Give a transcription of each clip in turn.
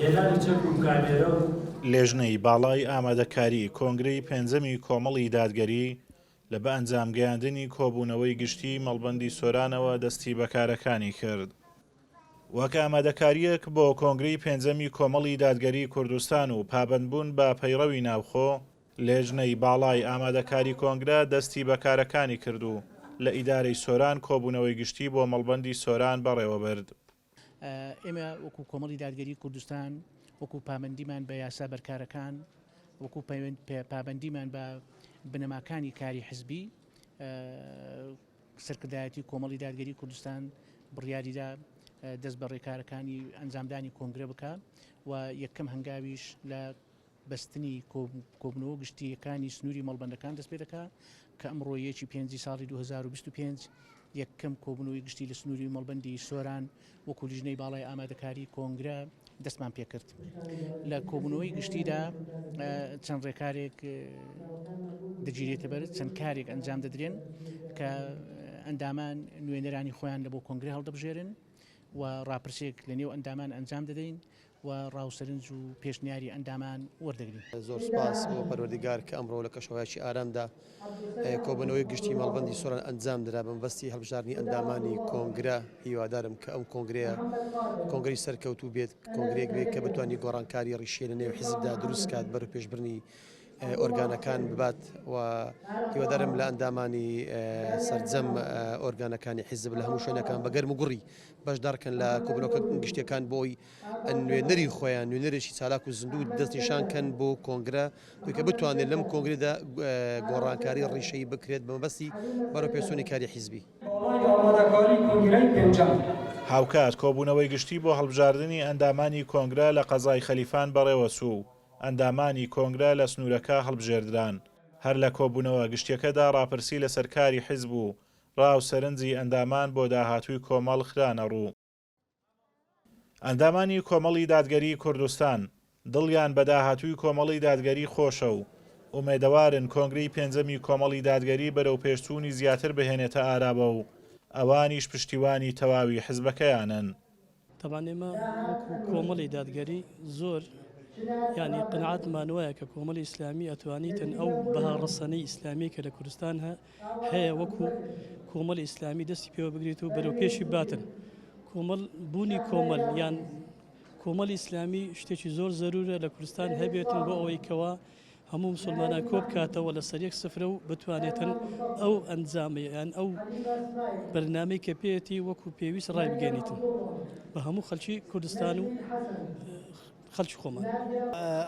هێنانی چەک و کامێرە و. لیژنەی باڵای ئامادەکاریی کۆنگرەی پێنجەمی کۆمەڵی دادگەری لە بە ئەنجام گەیاندنی کۆبوونەوەی گشتیی مەڵبەندی سۆرانەوە دەستی بە کارەکانی کرد. وەک ئامادەکارییەک بۆ کۆنگرەی پێنجەمی کۆمەڵی دادگەری کوردستان و پابەندبوون بە پەیڕەوی ناوخۆ، لێژنەی باڵای ئامادەکاری کۆنگرە دەستی بە کارەکانی کرد و لە ئیدارەی سۆران کۆبوونەوەی گشتی بۆ مەڵبەندی سۆران بەڕێوەبرد. ئێمە وەکو کۆمەڵی دادگەری کوردستان وەکو پابەندیمان بە یاسا بەرکارەکان وەکو پابەندیمان بە بنەماکانی کاری حزبی سەرکردایەتی کۆمەڵی دادگەری کوردستان بڕیاریدا دەست بە ڕێکارەکانی ئەنجامدانی کۆنگرە بکە و یەکەم هەنگاویش لە بەستنی کۆبوونەوە گشتییەکانی سنووری مەڵبەندەکان دەست پێ دەکات کە ئەمڕۆ یەکی پێنجی ساڵی دوو هەزار و بیست و پێنج یەکەم کۆبوونەوەی گشتی لە سنووری مەڵبەندی سۆران وەکوو لیژنەی باڵای ئامادەکاری کۆنگرە دەستمان پێ کرد. لە کۆبوونەوەی گشتیدا چەند ڕێکارێک دەگیرێتە بەر چەند کارێک ئەنجام دەدرێن کە ئەندامان نوێنەرانی خۆیان لە بۆ کۆنگرە هەڵدەبژێرن و ڕاپرسێک لە نێو ئەندامان ئەنجام دەدەین و ڕا و سەرنج و پێشنیاری ئەندامان وەردەگرین. زۆر سوپاس بۆ پەروەردگار کە ئەمڕۆ لە کەشوهەوایەکی ئارامدا کۆبوونەوەی گشتی مەڵبەندی سۆران ئەنجامدرا بە مەبەستی هەڵبژاردنی ئەندامانی کۆنگرە، هیوادارم کە ئەم کۆنگرەیە کۆنگرەی سەرکەوتوو بێت، کۆنگرەیەک بێت کە بتوانێت گۆڕانکاری ڕیشیی لە نێو حیزبدا دروست بکات، بەرەوپێشبردنی ئۆرگانەکان ببات و هیوادارم لە ئەندامانی سەرجەم ئۆرگانەکانی حیزب لە هەموو شوێنەکان بە گەرموگوڕی بەشدارکەن لە کۆبونەوەکە گشتیەکان بۆی نوێنەری خۆیان نوێنەرێکی چالاک و زیندوو دەستنیشان کەن بۆ کۆنگرە کە بتوانێت لەم کۆنگرێدا گۆڕانکاری ڕیشەی بکرێت بەمەبەستی بەرەو پێسونی کاری حیزبی. هاوکات کۆبونەوەی گشتی بۆ هەڵبژاردنی ئەندامانی کۆنگرە لە قەزای خەلیفان بەڕێوەچوو و ئەندامانی کۆنگرە لە سنورەکە هەڵبژێردران هەر لە کۆبونەوە گشتیەکەدا ڕاپرسی لەسەر کاری حیزب و ڕا و سەرنجی ئەندامان بۆ داهاتووی کۆمەڵ خرانە ڕوو. ئەندامانی کۆمەڵی دادگەریی کوردستان، دڵیان بە داهاتووی کۆمەڵی دادگەری خۆشە و ئومێدەوارن کۆنگرەی پێنجەمی کۆمەڵی دادگەری بەرەوپێشچوونی زیاتر بهێنێتە ئاراوە و ئەوانیش پشتیوانی تەواوی حزبەکەیانن. تەبعەن ئێمە وەکو کۆمەڵی دادگەری زۆر یانی قەناعەتمان وایە کە کۆمەڵی ئیسلامی ئەتوانیتن ئەو بەها ڕەسەنەی ئیسلامی کە لە کوردستان هەیە وەکو کۆمەڵی ئیسلامی دەستی پێوە بگریت و بەرەو پێشی باتن کۆمەڵ بوونی کۆمەل یان کۆمەلی ئیسلامی شتێکی زۆر زەرورە لە کوردستان هەبێتن بۆ ئەوەی کەەوە هەموو مسوڵمانان کۆبکاتەوە لەسەر یەک سفرە و بتوانێتن ئەو ئەنجامەیان ئەو بەرنامەی کە پێێتی وەکو پێویست ڕای بگەێنیتن بە هەموو خەلکی کوردستان و خەلکی خۆمان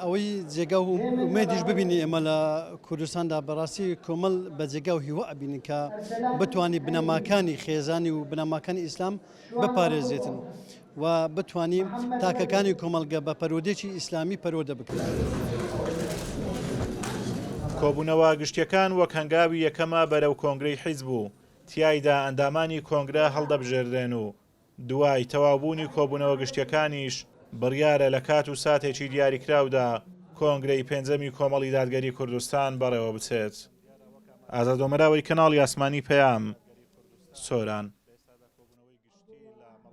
ئەوەی جێگا و مێدیش ببینی ئێمە لە کوردستاندا بەڕاستی کۆمەل بە جێگا و هیوا ئەبینین کە بتانی بنەماکانی خێزانی و بنەماکانی ئیسلام بپارێزێتن و بتوانین تاکەکانی کۆمەڵگە بە پەروەردەیەکی ئیسلامی پەروەردە بکەین. کۆبوونەوە گشتیەکان وەک هەنگاوی یەکەمە بەرەو کۆنگرەی حیزب و تیایدا ئەندامانی کۆنگرە هەڵدەبژێردرێن و دوای تەواوبوونی کۆبوونەوە گشتیەکانیش بڕیارە لە کات و ساتێکی دیاریکراودا کۆنگرەی پێنجەمی کۆمەڵی دادگەری کوردستان بەڕێوەبچێت. ئازاد ئۆمەراوەی کەناڵی ئاسمانی پەیام، سۆران.